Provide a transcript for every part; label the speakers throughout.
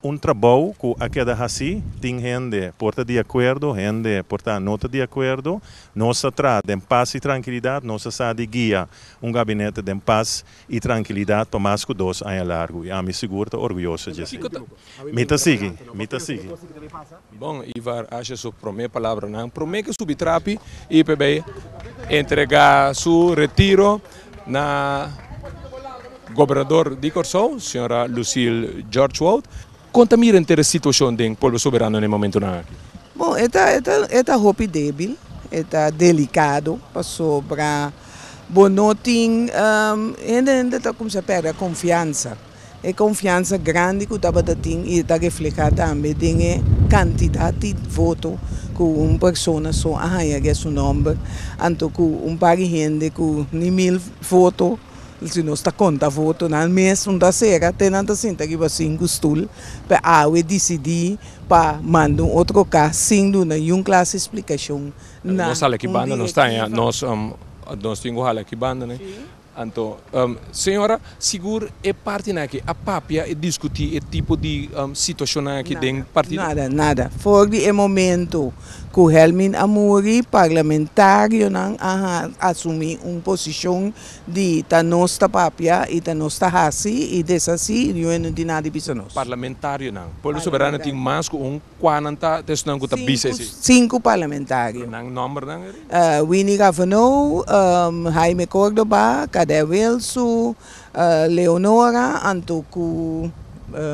Speaker 1: Un trabou ku a keda hasi, tin hende por ta di akuerdo, hende por ta no ta di akuerdo. Nos ta traha den pas i trankilidat, nos ta sa di guia un gabinete den pas i trankilidat pa mas ku dos aña largu i ami sigur ta orguyoso dje esei. Mi ta sigui, mi ta sigui.
Speaker 2: Bon, Ivar asha su promé palabranan promé ke subi trapi i pe bai entregá su retiro na Gobernador di Kòrsou, señora Lucille George Woudt. Kon ta mira enter e situashon den Pueblo Soberano na e momentunan aki? Bon, e ta
Speaker 3: e ta hopi débil, e ta delikado pasobra bo no tin hende hende ta kumsa pèrdè konfiansa. E konfiansa grandi ku tabata tin i ta reflehá tambe den e kantidat di voto ku un persona so a haña guer su nòmber, anto ku un par di hende ku ni mil voto, si nos ta konta votonan mes, un ta sera te nan ta sinta riba sinku stul, p'e awe disidí pa manda un otro ka sin duna yun klas di splikashon na un
Speaker 2: direktivo. Nos tin ku hala aki banda, Anto, señora, sigur e partinan aki a papia i diskutí e tipo di situashonnan aki den partido? Nada, nada. For
Speaker 3: di e momentu ku Helmin a muri, parlamentarionan a asumí un posishon di ta nos ta papia i ta nos ta hasi i deshasí i luego no tin nada di bisa nos. Parlamentarionan.
Speaker 2: Pueblo Soberano tin mas ku un. Kua nan ta ta esunnan ku ta bisa esei? Sinku parlamentario.
Speaker 3: Pero nan nòmber nan
Speaker 2: e riba. Winnie Gavenou,
Speaker 3: Jaime Córdoba, Cadet Wilsu, Leonora antoku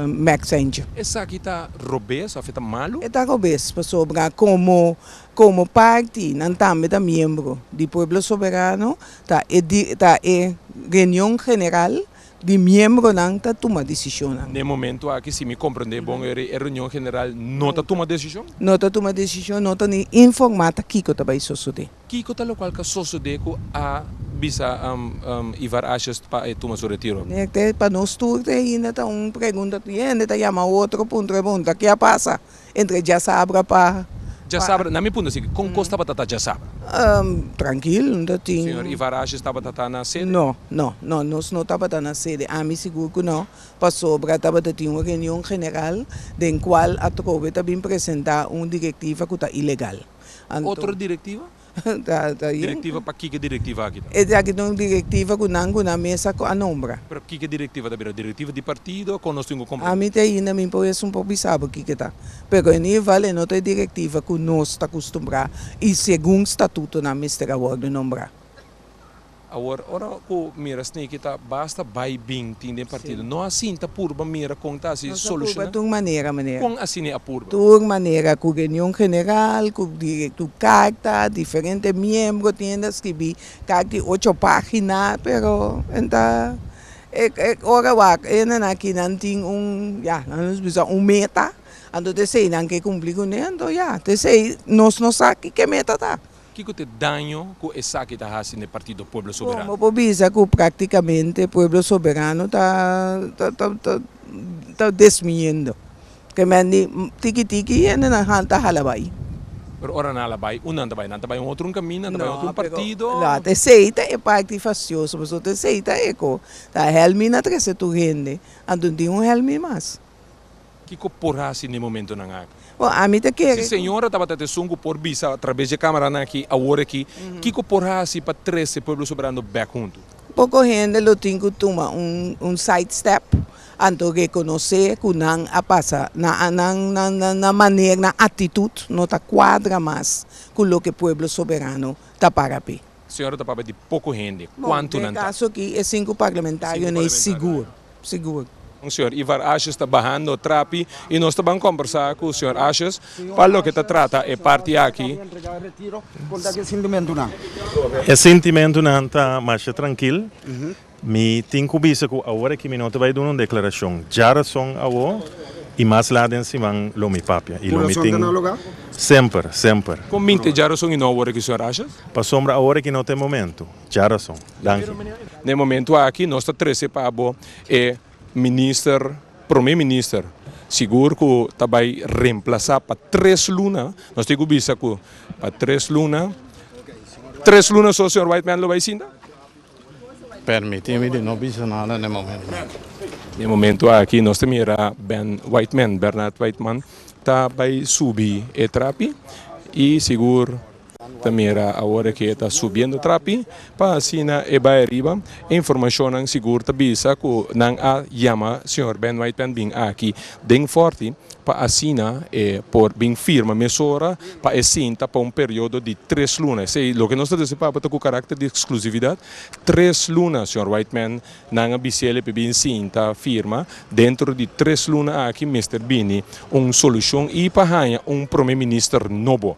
Speaker 3: Max Angel. Esaki ta
Speaker 2: robes òf e ta malu? E ta robes pasobra
Speaker 3: komo komo parti nan tambe ta miembro di Pueblo Soberano ta e ta e reunion general di miembronan ta tuma desishonnan. Na e momentu aki,
Speaker 2: si mi komprendé bon, e reunion general no ta tuma desishon? No ta tuma desishon,
Speaker 3: no ta ni informá ta kiko ta bai sosodé. Kiko ta lokual ka
Speaker 2: sosodé ku a bisa Ivar Asjes pa e tuma su retiro? Pa nos tur
Speaker 3: te ainda ta un pregunta. Tur hende ta yama otro punto, ta pregunta, ke a pasa? entre djasabra pa. Djasabra, na mi
Speaker 2: punto si, con cos tabata ta djasabra? Trankil,
Speaker 3: no ta tin. Señor Ivarashi tabata
Speaker 2: ta na sede? No, no, no,
Speaker 3: nos no tabata na sede, ami sigur cu no, pasobra tabata tin un reunion general den cual atrobe ta bin presenta un directiva cu ta ilegal, anto. Otro
Speaker 2: directiva? Directiva pa kiko e directiva aki ta? Esaki ta un directiva
Speaker 3: cu nan cu nan mes a nombra. Pero kiko e directiva ta
Speaker 2: bira? Directiva di partido o con nos tin cu compro? Ami te ainda mi por
Speaker 3: es un poco bisabo kiko ta pero en ieder geval e no ta e directiva cu nos ta custumbra y segun statuto nan mester a wordo nombra.
Speaker 2: Awor ora ku mira Sneaky ta basta bai bin tin den partido, no a sinta purba mira kon ta hasi solushona?
Speaker 3: Kon asina a
Speaker 2: purba? Tur manera ku
Speaker 3: reunion general, ku tur karta, diferente miembro tin hende a skibi kak di ocho pagina pero nan ta e ora wak e hendenan aki nan tin un ya nan nos bisa un meta anto esei nan ke kumpli kuné anto ya ta esei nos no sa kiko meta ta. Kiko ta e daño
Speaker 2: ku esaki ta hasi na e Partido Pueblo Soberano? Como por bisa ku
Speaker 3: praktikamente Pueblo Soberano ta ta desmiyendo? Ke men di tiki tiki hendenan han ta hala bai. Pero ora nan
Speaker 2: hala bai, un nan ta bai? Nan ta bai un otro un kaminda, nan ta bai otro un partido? No, pero esei ta
Speaker 3: e parti fasioso pasobra esei ta e ku ta hèlmi na trese tur hende anto tin un hèlmi mas. Kiko
Speaker 2: por hasi n'e momentonan aki? Bo, ami ta kere ku. Si
Speaker 3: señora tabata ta esun
Speaker 2: ku por bisa atraves di e kameranan aki awor aki, kiko por hasi pa trese Pueblo Soberano bèk huntu? Poko hende lo
Speaker 3: tin ku tuma un un side step, anto rekonosé ku nan a pasa, nan nan nan maner, nan atitut no ta kuadra mas ku loke Pueblo Soberano ta para p'e. Señora ta papia di
Speaker 2: poko hende, kuantunan ta? Den e kaso aki e sinku
Speaker 3: parlamentarionan i sigur, sigur. Con señor
Speaker 2: Ivar Ashes ta bahando trapi y nos ta ban combersa cu señor Ashes pa loke ta trata e parti aki.
Speaker 1: E sintimentunan ta masha trankil Mi tin ku bisa ku awor aki mi no ta bai duna un deklarashon dja rason awo i mas lat den siman lo mi papia i lo mi tin semper, semper. Kon mi te dja
Speaker 2: rason i no awor aki, señor Ashas? Pasobra awor aki
Speaker 1: no ta e momentu dja rason. Danki. Na e
Speaker 2: momentu aki nos ta trese pa bo e minister, prome minister, sigur ku ta bai remplasa pa tres luna, nos tin ku bisa ku pa tres luna, tres luna so señor Whiteman lo bai sinta?
Speaker 4: Permiti mi
Speaker 2: di no
Speaker 4: bisa nada
Speaker 2: n'e
Speaker 4: momento aki. N'e
Speaker 2: momento aki nos ta mira Ben Whiteman, Bernard Whiteman, ta bai subi e trapi y sigur ta mira awor ke ta subiendo trapi pa asina e bai ariba. E informacionnan sigur ta bisa cu nan a yama señor Ben Whiteman bin aki den Forty pa asina e por bin firma mesora pa e sinta pa un periodo di tres luna, esei loke nos ta deci papia ta cu caracter di exclusividad, tres luna señor Whiteman nan a biciele pa e bin sinta firma, dentro di tres luna aki mester bini un solucion y pa haya un prome minister nobo.